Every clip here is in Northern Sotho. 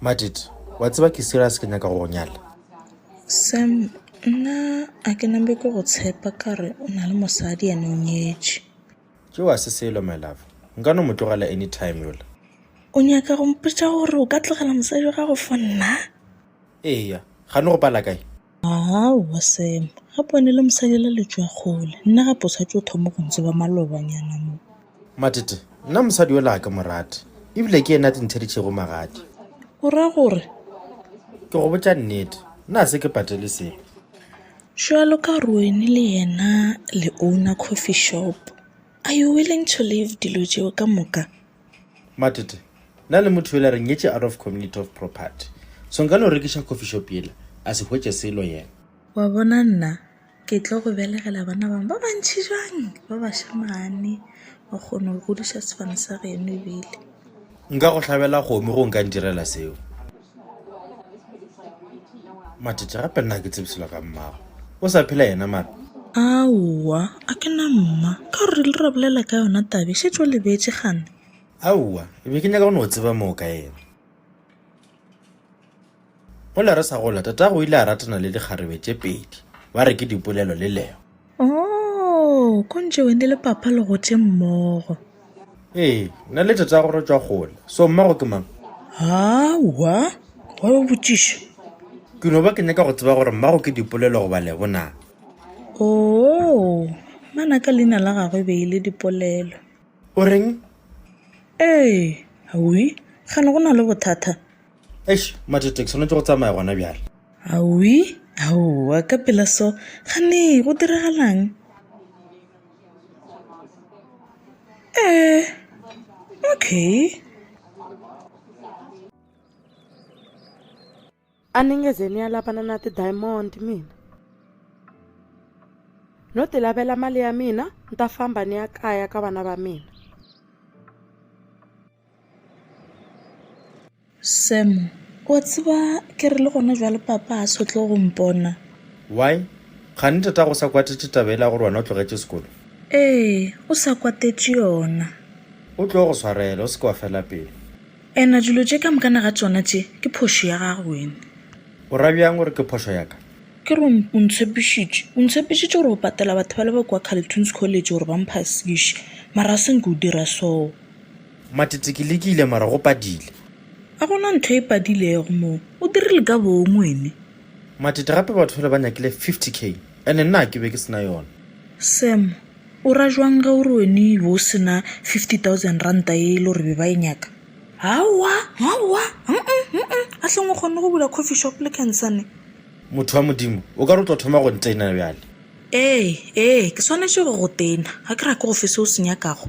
matit wa tseba ke serious ke nyaka go nyala sam nna a ke nambe ke go tshepa ka re o na le mosadi ene o nyetše ke wa se selo my love nka no mo tlogela anytime yola o nyaka go mpotsa gore o ka tlogela mosadi wa gago fo nna eya ga ne go pala kae Aowa Sam, gape o ne le mosadi la letšo ya kgole. Nna gape o swanetše o thoma go ntseba malobanyana mo. Matete, Nna mosadi yola ga ke mo rate, e bile ke yena a tlintheditšego magadi. O ra gore? Ke go botša nnete, nna ga se ke patele sepe. Bjalo ka Roeni le yena le owner coffee shop, are you willing to leave dilo tšeo ka moka? Matete, Na le motho yola re nyetše out of community of property, so nka no rekiša coffee shop yela a se hwetše selo yena. Wa bona nna ke tlo go belegela bana bang ba bantši jwang ba bašemane, wa kgono go godiša sefane sa geno ebile. Nka go hlabela kgomo ge o nka ntirela seo. Matete gape nna ke tsebiselo ga mmago o sa phela yena mara aowa a ke na mma ka gore le ra bolela ka yona tabe šetso lebetse gane aowa e be ke nyaka go no o tseba moo ka yena gole re sa gola tatago o ile a ratana le dikgarebe tše pedi ba re ke dipolelo le lego Oo, ko ntše wene le papa le gotše mmogo. Ee, nna le tatago re tšwa kgole. So mmago ke mang? Aowa, wa yo botšiša. Ke no ba ke nyaka go tseba gore mmago ke Dipolelo goba Lebo na. Oo, mana ka leina la gagwe e be e le Dipolelo. O reng? Ee, Awi, kgane go na le bothata? Eish, Matete, ke swanetše go tsamaya gona bjale. Awi, aowa, ka pela so, gane go diragalang? Ee, okay. A ni nge ze ni ya lavana na ti-diamond mina? No ti lavela mali ya mina, ni ta famba ni ya kaya ka vana va mina. Sam, O a tseba ke re le gona jwale papa ga se o tlo go mpona. Why? Kgane tatago o sa kwatetše taba ele ya gore wena o tlogetše sekolo? Ee, o sa kwatetše yona. O tlo go swarela, o se ke wa fela pelo. Ena dilo tše ka mokana ga tšona tše ke phošo ya gago wena. O ra bjang gore ke phošo ya ka? Ke re o ntshepišitše, o ntshepišitše gore o patela batho bale ba kua Carleton's College gore ba mphasiše, mara ga se nke o dira soo. Matete, Ke lekile mara go padile. A go na ntho e padilego mo, o dirile ka bong wene? Matete, Gape batho bale ba nyakile 50 k ene nna ke be ke sena yona. Sam, O ra jwang ge o re wene e be o sena 50,000 ranta ye e le gore be ba e nyaka? Aowa, aowa, hum-um, hum-um, ahleng o kgonne go bula coffee shop le Khensani? Motho wa Modimo, o ka re o tlo thoma go ntena bjale? Ee, ee, ke swanetše go go tena, ga ke rake go fe se o se nyakago.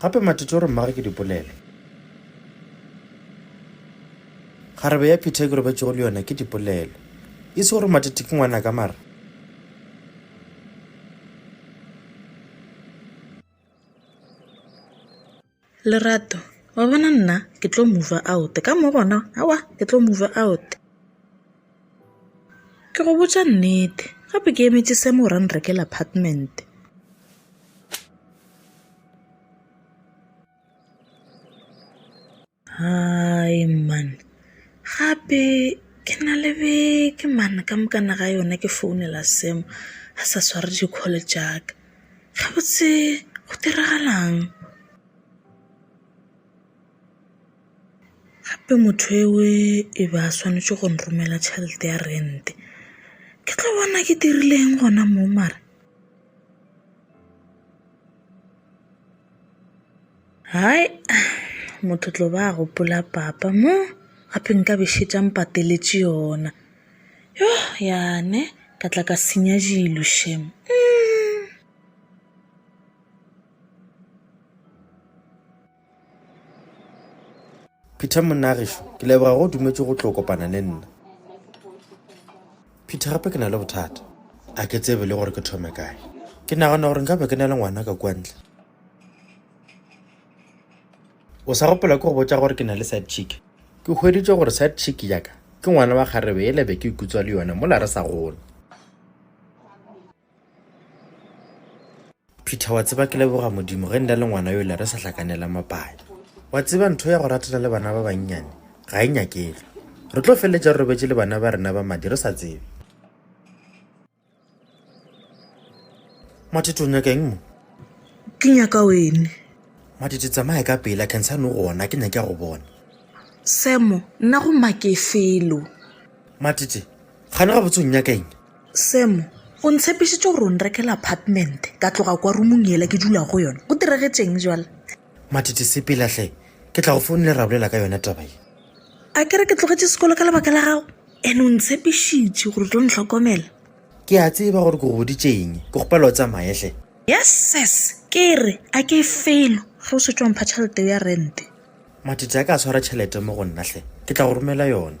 Gape Matete o re mmagwe ke dipolelo. Kgarebe ya Peter e ke robetšego le yona ke dipolelo. E se gore Matete ke ngwanaka mara. Lerato, Wa bona nna ke tlo mover out ka mo gona aowa ke tlo mover out. Ke go botša nnete, gape ke emetše se mo ra nrekela apartment. Hai man, gape ke na le beke man ka mokana ga yona ke founela Sam a sa sware di-call tša ka. Gabotse go diragalang? Gape motho eo e be a swanetše go nromela tšhelete ya rente. Ke tlo bona ke dirileng gona mo mara? Hai, motho tlo ba a gopola papa mo, gape nka be šetše a mpateletše yona. Yoh yane, ka tla ka senya dilo shem. Peter, Monna gešo, ke leboga go dumetše go tlo kopana le nna. Peter, Gape ke na le bothata. A ke tsebe le gore ke thome kae. Ke nagana gore nka be ke na le ngwana ka kua ntle. O sa gopola ke go botša gore ke na le side chick? Ke hweditše gore side chick ya ka ke ngwana wa kgarebe yela be ke ikutswa le yona mola re sa gola. Peter, wa tseba ke leboga modimo ge nda le ngwana yo le re sa hlakanela mapanya wa tseba ntho ya go ratela le bana ba bannyane ga e nyakege re tlo feleletša re robetše le bana ba rena ba madi re sa tsebe matete o nyaka eng mo ke nyaka wene matete tsamaye ka pela cancern o gona ke nyake ya go bona semo nna go make felo matete gane ga botsong nyaka eng Sam, o ntshepišitše gore o nrekela apartment ka tloga kwa rumong yela ke dula go yona. Go diregetšeng bjala? Matete sepela hle, ke tla go founela ra bolela ka yona taba ye. A ke re ke tlogetše sekolo ka lebaka la gago? Ene o ntshepišitše gore o tlo ntlhokomela. Ke a tseba gore ke go boditšeng, ke go pela o tsamaye hle. Yes sis, ke re a ke felo ge o šetše wa mpha tšhelete ya rente. Matete a ka swara tšhelete mo go nna hle, ke tla go romela yona.